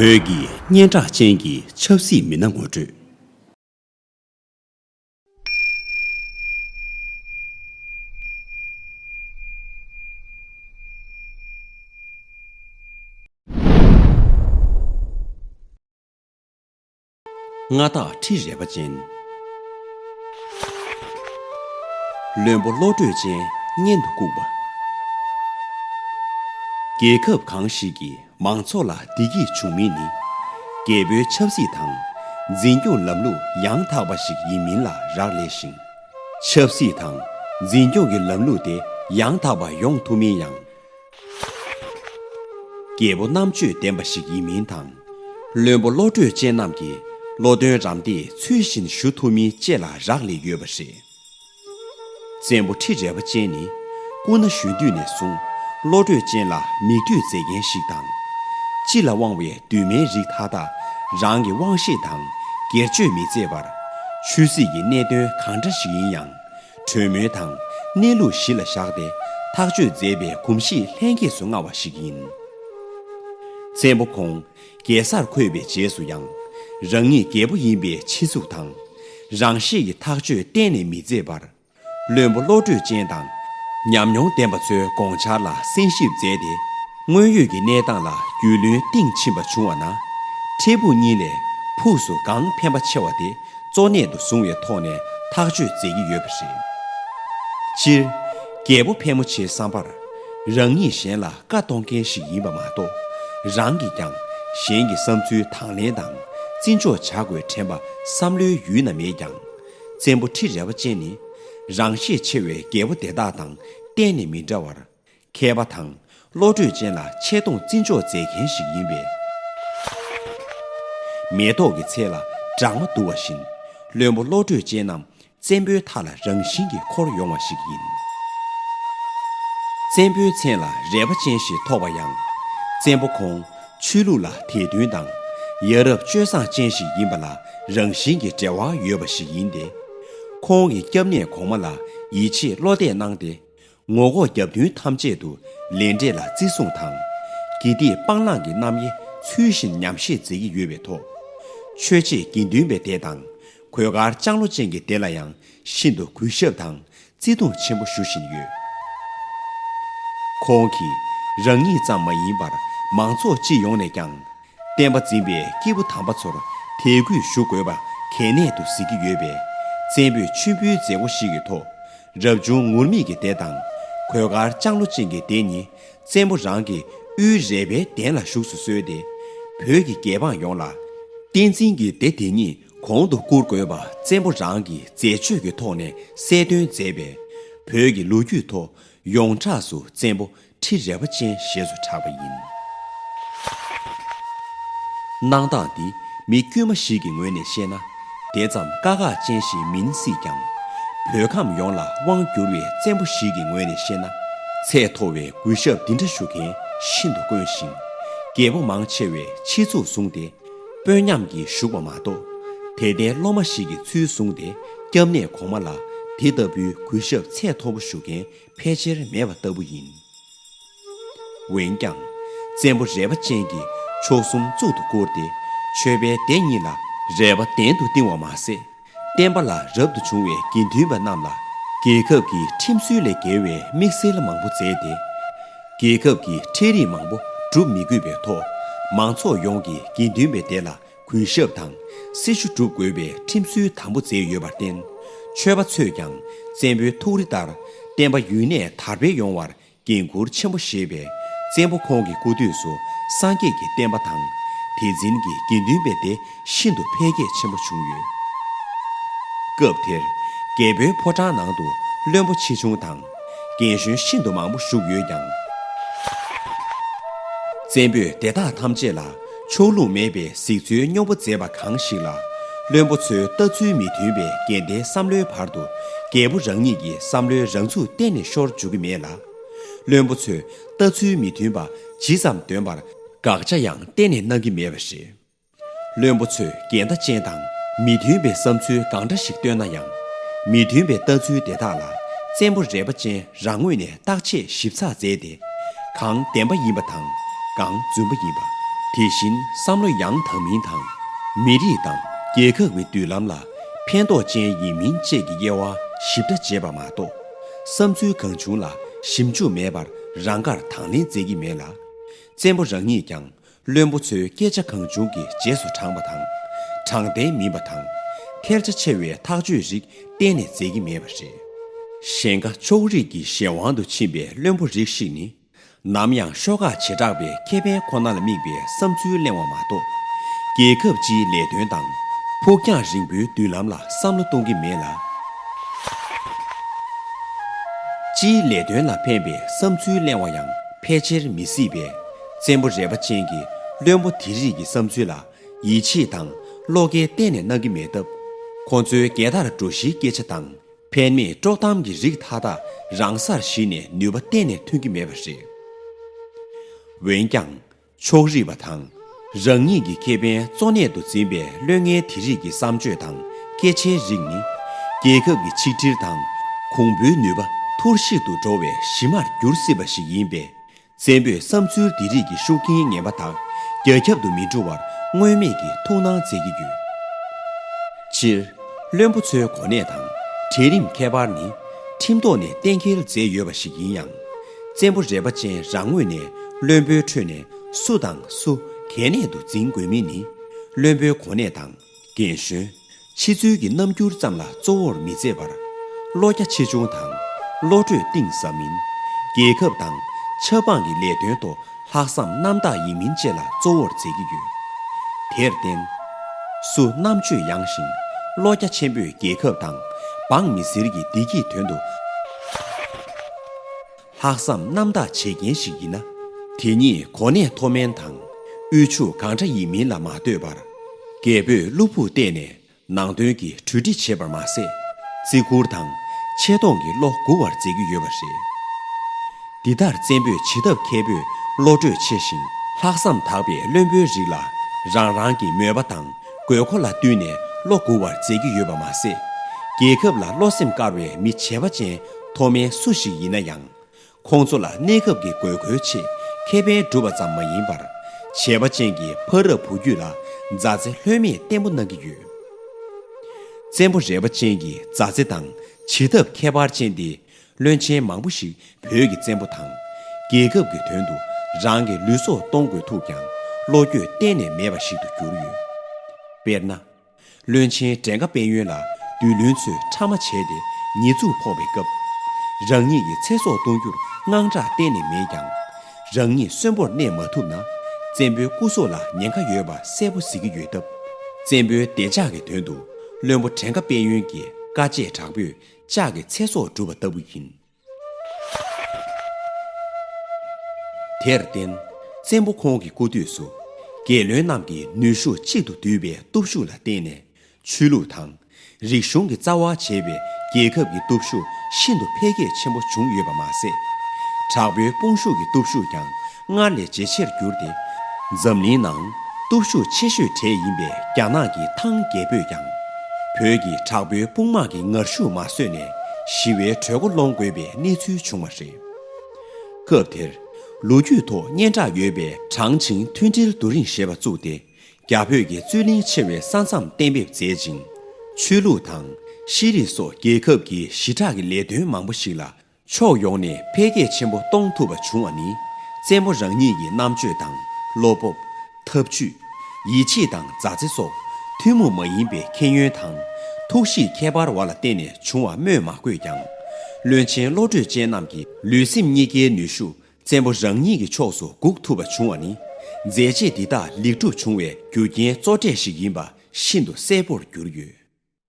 བོད་ཀྱི་སྙན་གྲགས་ཅན་གྱི་ཆབ་སྲིད་མི་སྣ་ངོ་སྤྲོད། མངའ་བདག་ཁྲི་རལ་པ་ཅན། བློན་པོ་བློ་གྲོས་ཅན་མཉན་དུ་བཀུག་པ། རྒྱལ་ཁབ་གང་ཞིག་གི་མང་ཚོགས་ལ་བདེ་སྐྱིད་འབྱུང་མིན་ནི། རྒྱལ་པོའི་ཆབ་སྲིད་དང་འཛིན་སྐྱོང་ལམ་ལུགས་ཡང་དག་པ་ཞིག་ཡིན་མིན་ལ་རག་ལས་ཤིང། ཆབ་སྲིད་དང་འཛིན་སྐྱོང་གི་ལམ་ལུགས་དེ་ཡང་དག་པ་ཡོང་ཐུབ་མིན་ཡང། རྒྱལ་པོ་རྣམ་དཔྱོད་ལྡན་པ་ཞིག་ཡིན་མིན་དང། བློན་པོ་བློ་གྲོས་ཅན་རྣམས་ཀྱིས་བློ་དོན་རམ་འདེགས་ཚུལ་བཞིན་ཞུ་ཐུབ་མིན་བཅས་ལ་རག་ལས་ཡོད་པ་རེད། བཙན་པོ་ཁྲི་རལ་པ་ཅན་ནི་སྐུ་ན་གཞོན་དུས་ནས་བཟུང་བློ་གྲོས་ཅན་ལ་མིག་ལྟོས་མཛད་མཁན་ཞིག་དང། སྤྱི་ལ་དབང་བའི་འདུན་མའི་རིགས་མཐའ་དག་རང་གི་དབང་ཤེད་དང་སྒེར་གཅོད་མི་མཛད་པར། ཆོས་སྲིད་ཀྱི་གནད་དོན་གང་འདྲ་ཞིག་ཡིན་ཡང་གྲོས་མོལ་དང་གནས་ལུགས་གཞི་ལ་བཞག་སྟེ་ཐག་གཅོད་མཛད་པའི་གོམས་གཤིས་ལྷན་སྐྱེས་སུ་མངའ་བ་ཞིག་ཡིན། བཙན་པོ་ཁོང་རྒྱལ་སར་འཁོད་པའི་རྗེས་སུ་ཡང། རང་ཉིད་རྒྱལ་པོ་ཡིན་པའི་ཕྱི་གཟུགས་དང། རང་ཤེད་ཀྱི་ཐག་གཅོད་གཏན་ནས་མི་མཛད་པར། བློན་པོ་བློ་གྲོས་ཅན་དང། ཉམས་མྱོང་ལྡན་པ་ཚོའི་དགོངས་འཆར་ལ་གསན་ཞིབ་མཛད་དེ། དངོས་ཡོད་ཀྱི་གནས་སྟངས་ལ་རྒྱུས་ལོན་གཏིང་ཕྱིན་པ་བྱུང་བ་ན། འཕྲལ་ཕུགས་གཉིས་ལས་ཕུགས་སུ་གང་ཕན་པ་ཆེ་བ་དེ་གཙོ་གནད་དུ་བཟུང་བའི་ཐོག་ནས་ཐག་གཅོད་མཛད་ཀྱི་ཡོད་པ་རེད། སྤྱིར། རྒྱལ་པོ་ཕལ་མོ་ཆེའི་བསམ་པར། རང་ཉིད་གཞན་ལ་བཀའ་གཏོང་མཁན་ཞིག་ཡིན་པ་མ་གཏོགས། རང་གིས་ཀྱང་གཞན་གྱི་བསམ་ཚུལ་དང་ལེན་དང་བརྩི་འཇོག་བྱ་དགོས་དྲན་པ་བསམ་བློའི་ཡུལ་ན་མེད་ཀྱང། བཙན་པོ་ཁྲི་རལ་བ་ཅན་ནི། རང་ཤེད་ཆེ་བའི་རྒྱལ་པོ་དེ་དག་དང་གཏན་ནས་མི་འདྲ་བར། མཁས་པ་དང་བློ་གྲོས་ཅན་ལ་ཆེ་མཐོང་བརྩི་འཇོག་མཛད་མཁན་ཞིག་ཡིན་པས། མེ་ཏོག་གི་ཚལ་ལ་སྦྲང་མ་འདུ་བ་བཞིན་བློན་པོ་བློ་གྲོས་ཅན་རྣམས་བཙན་པོའི་མཐའ་ལ་རང་བཞིན་གྱིས་འཁོར་ཡོང་བ་ཞིག་ཡིན། བཙན་པོའི་མཚན་ལ་རལ་པ་ཅན་ཞེས་ཐོགས་པ་ཡང། བཙན་པོ་ཁོང་ཆོས་ལུགས་ལ་དད་འདུན་དང་ཡ་རབས་སྤྱོད་བཟང་ཅན་ཞིག་ཡིན་པ་ལ་རང་བཞིན་གྱིས་འབྲེལ་བ་ཡོད་པ་ཞིག་ཡིན་ཏེ། ཁོང་གིས་སྐྱབས་གནས་གོང་མ་ལ་ཡིད་ཆེས་བློ་གཏད་གནང་སྟེ། ངོ་ལྐོག་རྒྱབ་མདུན་ཐམས་ཅད་དུ་ལས་འབྲས་ལ་བརྩི་སྲུང་དང། དགེ་སྡིག་སྤང་བླང་གི་རྣམ་དབྱེ་ཚུལ་བཞིན་ཉམས་བཞེས་མཛད་ཀྱི་ཡོད་པའི་ཐོག། ཆོས་རྗེ་དགེ་འདུན་པའི་སྡེ་དང་གོས་དཀར་ལྕང་ལོ་ཅན་གྱི་སྡེ་ལ་ཡང་ཤིན་ཏུ་གུས་ཞབས་དང་བརྩི་མཐོང་ཆེན་པོ་ཞུ་བཞིན་ཡོད། ཁོང་གིས་རང་ཉིད་ཙམ་མ་ཡིན་པར་མང་ཚོགས་སྤྱི་ཡོངས་ནས་ཀྱང་བསྟན་པ་འཛིན་པའི་སྐྱེས་བུ་དམ་པ་ཚོར་དད་གུས་ཞུ་དགོས་པ་གལ་གནད་དུ་གཟིགས་ཀྱི་ཡོད་པས། བཙན་པོས་མཆོད་འབུལ་མཛད་སྒོ་ཞིག་གི་ཐོག་རབ་བྱུང་ངུར་སྨྲིག་གི་སྡེ་དང། གོས་དཀར་ལྕང་ལོ་ཅན་གྱི་སྡེ་གཉིས་བཙན་པོ་རང་གི་དབུའི་རལ་པའི་གདན་ལ་བཞུགས་སུ་གསོལ་ཏེ། བོད་ཀྱི་རྒྱལ་འབངས་ཡོངས་ལ། བསྟན་འཛིན་གྱི་སྡེ་དེ་གཉིས་གོང་དུ་བཀུར་དགོས་པ་བཙན་པོ་རང་གིས་མཛད་སྤྱོད་ཀྱི་ཐོག་ནས་གསལ་སྟོན་མཛད་པས། བོད་ཀྱི་ལོ་རྒྱུས་ཐོག་ཡོངས་གྲགས་སུ་བཙན་པོ་ཁྲི་རལ་པ་ཅན་ཞེས་སུ་གྲགས་པ་ཡིན། གནང་སྟངས་འདི་མི་དཀྱུས་མ་ཞིག་གི་ངོས་ནས་བཤད་ན། དེ་ཙམ་དཀའ་ཁག་ཅན་ཞིག་མིན་སྲིད་ཀྱང། བོད་ཁམས་ཡོངས་ལ་དབང་བསྒྱུར་བའི་བཙན་པོ་ཞིག་གི་ངོས་ནས་བཤད་ན། ཚད་མཐོ་བའི་གུས་ཞབས་འདི་འདྲ་ཞུ་མཁན་ཤིན་ཏུ་དཀོན་ཞིང། རྒྱལ་པོ་མང་ཆེ་བས་ཕྱི་ཚུལ་བཟུང་སྟེ་དཔོན་ཉམས་ཀྱིས་བཞུགས་པ་མ་གཏོགས། དད་ལྡན་སློབ་མ་ཞིག་གི་ཚུལ་བཟུང་སྟེ་སྐྱབས་གནས་གོང་མ་ལ་དེ་ལྟ་བུའི་གུས་ཞབས་ཚད་མཐོ་པོ་ཞུ་མཁན་ཕལ་ཆེར་མེད་པ་ལྟ་བུ་ཡིན། འོན་ཀྱང། བཙན་པོ་རལ་པ་ཅན་གྱིས་མཆོག་གསུམ་གཙུག་ཏུ་བཀུར་ཏེ་མཆོད་པའི་སྡེ་གཉིས་ལ་རལ་པ་གདན་དུ་བཏིང་བ་མ་ཟད། བསྟན་པ་ལ་རབ་ཏུ་བྱུང་བའི་དགེ་འདུན་པ་རྣམས་ལ་རྒྱལ་ཁབ་ཀྱི་ཁྲིམས་སྲོལ་ལས་འགལ་བའི་དམིགས་བསལ་མང་པོ་མཛད་དེ། རྒྱལ་ཁབ་ཀྱི་ཁྲལ་རིགས་མང་པོ་སྒྲུབ་མི་དགོས་པའི་ཐོག་མང་ཚོགས་ཡོངས་ཀྱི་དགེ་འདུན་པའི་སྡེ་ལ་གུས་ཞབས་དང་སྲི་ཞུ་བསྒྲུབ་དགོས་པའི་ཁྲིམས་སྲོལ་དམ་པོ་མཛད་ཡོད་པར་བརྟེན། ཆོས་པ་ཚོས་ཀྱང་བཙན་པོའི་ཐུགས་རེ་ལྟར་བསྟན་པ་ཡུན་གནས་དར་སྤེལ་ཡོང་བར་འགན་ཁུར་ཆེན་པོ་བཞེས་པས་བཙན་པོ་ཁོང་གི་སྐུ་དུས་སུ་སངས་རྒྱས་ཀྱི་བསྟན་པ་དང། དེ་འཛིན་གྱི་དགེ་འདུན་པའི་སྡེ་ཤིན་ཏུ་འཕེལ་རྒྱས་ཆེན་པོ་བྱུང་ཡོད། སྐབས་དེར་རྒྱལ་པོའི་ཕོ་བྲང་ནང་དུ་བློན་པོ་ཆེ་ཆུང་དང། རྒན་གཞོན་ཤིན་ཏུ་མང་པོ་བཞུགས་ཡོད་ཀྱང། བཙན་པོས་དེ་དག་ཐམས་ཅད་ལ་ཕྱོགས་ལྷུང་མེད་པའི་གཟིགས་ཚུལ་སྨྱོ་པོ་མཛད་པ་གང་ཞིག་ལ། བློན་པོ་ཚོའི་ལྟ་ཚུལ་མི་མཐུན་པའི་འགལ་ཟླའི་བསམ་བློའི་བར་དུ་རྒྱལ་པོ་རང་ཉིད་ཀྱི་བསམ་བློའི་རང་ཚུགས་གཏན་ནས་ཤོར་འཇུག་གི་མེད་ལ། བློན་པོ་ཚོའི་ལྟ་ཚུལ་མི་མཐུན་པ་ཇི་ཙམ་འདོན་པར་དགག་བྱ་ཡང་གཏན་ནས་གནང་གི་མེད་པ་རེད། བློན་པོ་ཚོས་འགལ་ཟླ་ཅན་དང་མི་མཐུན་པའི་བསམ་ཚུལ་གང་འདྲ་ཞིག་བཏོན་ན་ཡང། མི་མཐུན་པའི་ལྟ་ཚུལ་དེ་དག་ལ་བཙན་པོ་རལ་པ་ཅན་རང་ངོས་ནས་བརྟག་དཔྱད་ཞིབ་ཚགས་མཛད་དེ། གང་བདེན་པ་ཡིན་པ་དང་གང་རྫུན་པ་ཡིན་པ། དེ་བཞིན་བསམ་བློ་ཡང་དག་མིན་དང། མི་རིགས་དང་རྒྱལ་ཁབ་ཀྱི་མདུན་ལམ་ལ་ཕན་ཐོགས་ཅན་ཡིན་མིན་བཅས་ཀྱི་དབྱེ་བ་ཞིབ་ཕྲ་འབྱེད་པ་མ་གཏོགས། བསམ་ཚུལ་གང་བྱུང་ལ་ཞིབ་འཇུག་མེད་པར་རང་དགར་དང་ལེན་མཛད་ཀྱི་མེད་ལ། བཙན་པོ་རང་ཉིད་ཀྱང་བློན་པོ་ཚོའི་སྐད་ཆ་གང་བྱུང་གི་རྗེས་སུ་འབྲངས་པ་དང། དྲང་བདེན་མིན་པ་དང། ཐལ་ཆ་ཆེ་བའི་ཐག་གཅོད་རིགས་གཏན་ནས་མཛད་ཀྱི་མེད་པ་རེད། གཞན་ཁ་ཕྱོགས་རིས་ཀྱི་གཞན་དབང་དུ་ཕྱིན་པའི་བློན་པོ་རིགས་ཤིག་ནི། ནམ་ཡང་ཤོག་ཁག་བྱེ་བྲག་པའི་ཁེ་ཕན་ཁོ་ན་ལ་དམིགས་པའི་བསམ་ཚུལ་གླེང་བ་མ་གཏོགས། རྒྱལ་ཁབ་སྤྱིའི་ལས་དོན་དང། ཕུགས་རྒྱང་རིང་པོའི་མདུན་ལམ་ལ་བསམ་བློ་གཏོང་གི་མེད་ལ། སྤྱིའི་ལས་དོན་ལ་ཕན་པའི་བསམ་ཚུལ་གླེང་བ་ཡང་ཕལ་ཆེར་མི་སྲིད་པས། བཙན་པོ་རལ་པ་ཅན་གྱི་བློན་པོ་དེ་རིགས་ཀྱི་བསམ་ཚུལ་ལ་ཡིད་ཆེས་དང་བློ་སྐྱེལ་གཏན་ནས་གནང་གི་མེད་སྟབས། ཁོང་ཚོའི་རྒྱལ་དར་སྒྲོགས་གཞིའི་སྐད་ཆ་དང་ཕན་མེད་དཀྲོག་གཏམ་གྱི་རིགས་མཐའ་དག་རང་སར་གཞིལ་ནས་ནུས་པ་གཏན་ནས་ཐོན་གྱི་མེད་པ་རེད། འོན་ཀྱང། ཕྱོགས་རིས་པ་དང། རང་ཉིད་ཀྱི་ཁེ་ཕན་གཙོ་གནད་དུ་འཛིན་པའི་བློན་ངན་དེ་རིགས་ཀྱི་བསམ་སྤྱོད་དང་སྐད་ཆའི་རིགས་ནི། རྒྱལ་ཁབ་ཀྱི་ཆིག་སྒྲིལ་དང་གོང་བུའི་ནུས་པ་ཐུར་གཤིག་ཏུ་འགྲོ་བའི་གཞི་མར་འགྱུར་སྲིད་པ་ཞིག་ཡིན་པས། བཙན་པོས་བསམ་ཚུལ་འདི་རིགས་ཀྱི་ཤུགས་རྐྱེན་ངན་པ་དག་རྒྱ་ཁྱབ་ཏུ་མི་འགྲོ་བར་སྔོན་མེད་ཀྱི་ཐུགས་སྣང་མཛད་ཀྱི་ཡོད། སྤྱིར། བློན་པོ་ཚོའི་གོ་གནས་དང་གྲལ་རིམ་ཁྱད་པར་ནི་ཁྲིམས་ཐོག་ནས་གཏན་འཁེལ་མཛད་ཡོད་པ་ཞིག་ཡིན་ཡང། བཙན་པོ་རལ་པ་ཅན་རང་ངོས་ནས་བློན་པོའི་ཁྲོད་ནས་སུ་དང་སུ་གལ་གནད་དུ་འཛིན་དགོས་མིན་ནི་བློན་པོའི་གོ་གནས་དང། རྒན་གཞོན། ཕྱི་ཚུལ་གྱི་རྣམ་འགྱུར་ཙམ་ལ་གཙོ་བོར་མི་མཛད་པར། བློ་རྒྱ་ཆེ་ཆུང་དང། བློ་གྲོས་གཏིང་ཟབ་མིན། རྒྱལ་ཁབ་དང། ཆབ་འབངས་ཀྱི་ལས་དོན་ཐོག་ལྷག་བསམ་རྣམ་དག་ཡིན་མིན་བཅས་ལ་གཙོ་བོར་མཛད་ཀྱི་ཡོད། དེར་བརྟེན། སུ་རྣམ་དཔྱོད་ཡངས་ཤིང། བློ་རྒྱ་ཆེན་པོས་རྒྱལ་ཁབ་དང། འབངས་མི་སེར་གྱི་བདེ་སྐྱིད་དོན་དུ། ལྷག་བསམ་རྣམ་དག་བྱེད་མཁན་ཞིག་ཡིན་ན། དེ་ཉིད་གོ་གནས་མཐོ་དམན་དང། དབུལ་ཕྱུག་གང་འདྲ་ཡིན་མིན་ལ་མ་ལྟོས་པར། རྒད་པོས་བློ་ཕུགས་གཏད་ནས་ནང་དོན་གྱི་གྲོས་འདྲི་བྱེད་པར་མ་ཟད། བརྩི་བཀུར་དང་ཆེ་མཐོང་གི་བློ་མགུ་བར་མཛད་ཀྱི་ཡོད་པ་རེད། འདི་ལྟར་བཙན་པོས་བྱེད་ཐབས་མཁས་པོས་བློ་གྲོས་ཆེ་ཞིང་ལྷག་བསམ་དག་པའི་བློན་པོའི་རིགས་ལ་རང་རང་གི་མོས་པ་དང་དགོས་མཁོ་ལ་བསྟུན་ནས་བློ་མགུ་བར་མཛད་ཀྱི་ཡོད་པ་མ་ཟད། རྒྱལ་ཁབ་ལ་བློ་སེམས་དཀར་བའི་མི་བྱེ་བ་ཅན་མཐོ་དམན་སུ་ཞིག་ཡིན་ན་ཡང། ཁོང་ཚོ་ལ་གནས་སྐབས་ཀྱི་དགོས་མཁོའི་ཆེད་ཁེ་ཕན་སྒྲུབ་པ་ཙམ་མ་ཡིན་པར། བྱེས་པ་ཅན་གྱི་ཕ་རབས་བུ་རྒྱུད་ལ་མཛའ་བརྩེ་ལྷོད་མེད་བརྟན་པོ་གནང་གི་ཡོད། བཙན་པོ་རལ་པ་ཅན་གྱི་མཛའ་བརྩེ་དང་བྱེད་ཐབས་ཁྱད་པར་ཅན་དེས་བློན་ཆེན་མང་པོ་ཞིག་བོད་ཀྱི་བཙན་པོ་དང། རྒྱལ་ཁབ་ཀྱི་དོན་དུ་རང་གི་ལུས་སྲོག་གཏོང་དགོས་ཐུག་ཀྱང་བློ་འགྱོད་གཏན་ནས་མེད་པ་ཞིག་ཏུ་གྱུར་ཡོད། དཔེར་ན། བློན་ཆེན་བྲན་ཁ་དཔལ་ཡོན་ལ་བདུད་བློན་ཚོས་ཕྲ་མ་བྱས་ཏེ་ཉེས་འཛུགས་ཕོག་པའི་སྐབས། རང་ཉིད་ཀྱི་ཚེ་སྲོག་གཏོང་རྒྱུར་དངངས་སྐྲག་གཏན་ནས་མེད་ཀྱང། རང་ཉིད་གསོན་པོར་གནས་མ་ཐུབ་ན། བཙན་པོའི་སྐུ་སྲོག་ལ་ཉེན་ཁ་ཡོད་པ་གསལ་པོ་གཟིགས་ཀྱི་ཡོད་སྟབས། བཙན་པོའི་བདེ་འཇགས་ཀྱི་དོན་དུ་བློན་པོ་བྲན་ཁ་དཔལ་ཡོན་གྱིས་དཀའ་སྤྱད་དྲག་པོས་ལྕགས་ཀྱི་ཚེ་སྲོག་བསྒྲུབས་པ་ལྟ་བུ་ཡིན། དེར་བརྟེན་བཙན་པོ་ཁོང་གི་སྐུ་དུས་སུ། རྒྱལ་བློན་རྣམས་ཀྱིས་ནུས་ཤུགས་གཅིག་ཏུ་བསྡུས་པའི་སྟོབས་ཤུགས་ལ་བརྟེན་ནས་ཆོས་ལུགས་དང། རིག་གཞུང་གི་རྩ་བ་བྱས་པའི་རྒྱལ་ཁབ་ཀྱི་སྟོབས་ཤུགས་ཤིན་ཏུ་འཕེལ་རྒྱས་ཆེན་པོ་བྱུང་ཡོད་པ་མ་ཟད། དྲག་པོའི་དཔུང་ཤུགས་ཀྱི་སྟོབས་ཤུགས་ཀྱང་སྔར་ལས་ཇེ་ཆེར་གྱུར་ཏེ། འཛམ་གླིང་ནང་སྟོབས་ཤུགས་ཆེ་ཤོས་གྲས་ཡིན་པའི་རྒྱ་ནག་གི་ཐང་རྒྱལ་པོས་ཀྱང། བོད་ཀྱི་དྲག་པོའི་དཔུང་དམག་གི་ངར་ཤུགས་མ་བཟོད་ནས་ཞི་བའི་གྲོས་འགོ་སློང་དགོས་པའི་གནས་ཚུལ་བྱུང་བ་རེད། སྐབས་དེར། ལོ་རྒྱུས་ཐོག་སྙན་གྲགས་ཡོད་པའི་ཁྲང་ཆིང་མཐུན་སྒྲིལ་རྡོ་རིང་ཞེས་པ་བཙུགས་ཏེ། རྒྱ་བོད་ཀྱི་རྩོད་གླེང་ཆེ་བའི་ས་མཚམས་གཏན་འབེབས་མཛད་ཅིང། ཆོས་ལུགས་དང་ཤེས་རིག་སོགས་རྒྱལ་ཁབ་ཀྱི་ཞི་དྲག་གི་ལས་དོན་མང་པོ་ཞིག་ལ་ཕྱོགས་ཡོངས་ནས་འཕེལ་རྒྱས་ཆེན་པོ་གཏོང་ཐུབ་པ་བྱུང་བ་ནི་བཙན་པོ་རང་ཉིད་ཀྱི་རྣམ་དཔྱོད་དང་བློ་སྤོབས། ཐབས་ཇུས། ཡིད་ཆེས་དང་མཛའ་བརྩེ་སོགས་ཐུན་མོང་མ་ཡིན་པའི་མཁྱེན་ཡོན་དང། ཐུགས་གཤིས་ཁྱད་པར་བ་ལ་བརྟེན་ནས་བྱུང་བ་སྨོས་མ་དགོས་ཀྱང། བློན་ཆེན་བློ་གྲོས་ཅན་རྣམས་ཀྱི་ལུས་སེམས་གཉིས་ཀའི་ནུས་ཤུགས་བཙན་པོ་རང་ཉིད་ཀྱི་ཕྱོགས་སུ་འགུག་ཐུབ་པ་བྱུང་བ་ནི། མཛད་རྗེས་འདི་དག་ལེགས་གྲུབ་བྱུང་བའི་རྒྱུ་རྐྱེན་གཙོ་གྲས་ཤིག་ཡིན་པ་ཤིན་ཏུ་གསལ་པོར་གྱུར་ཡོད།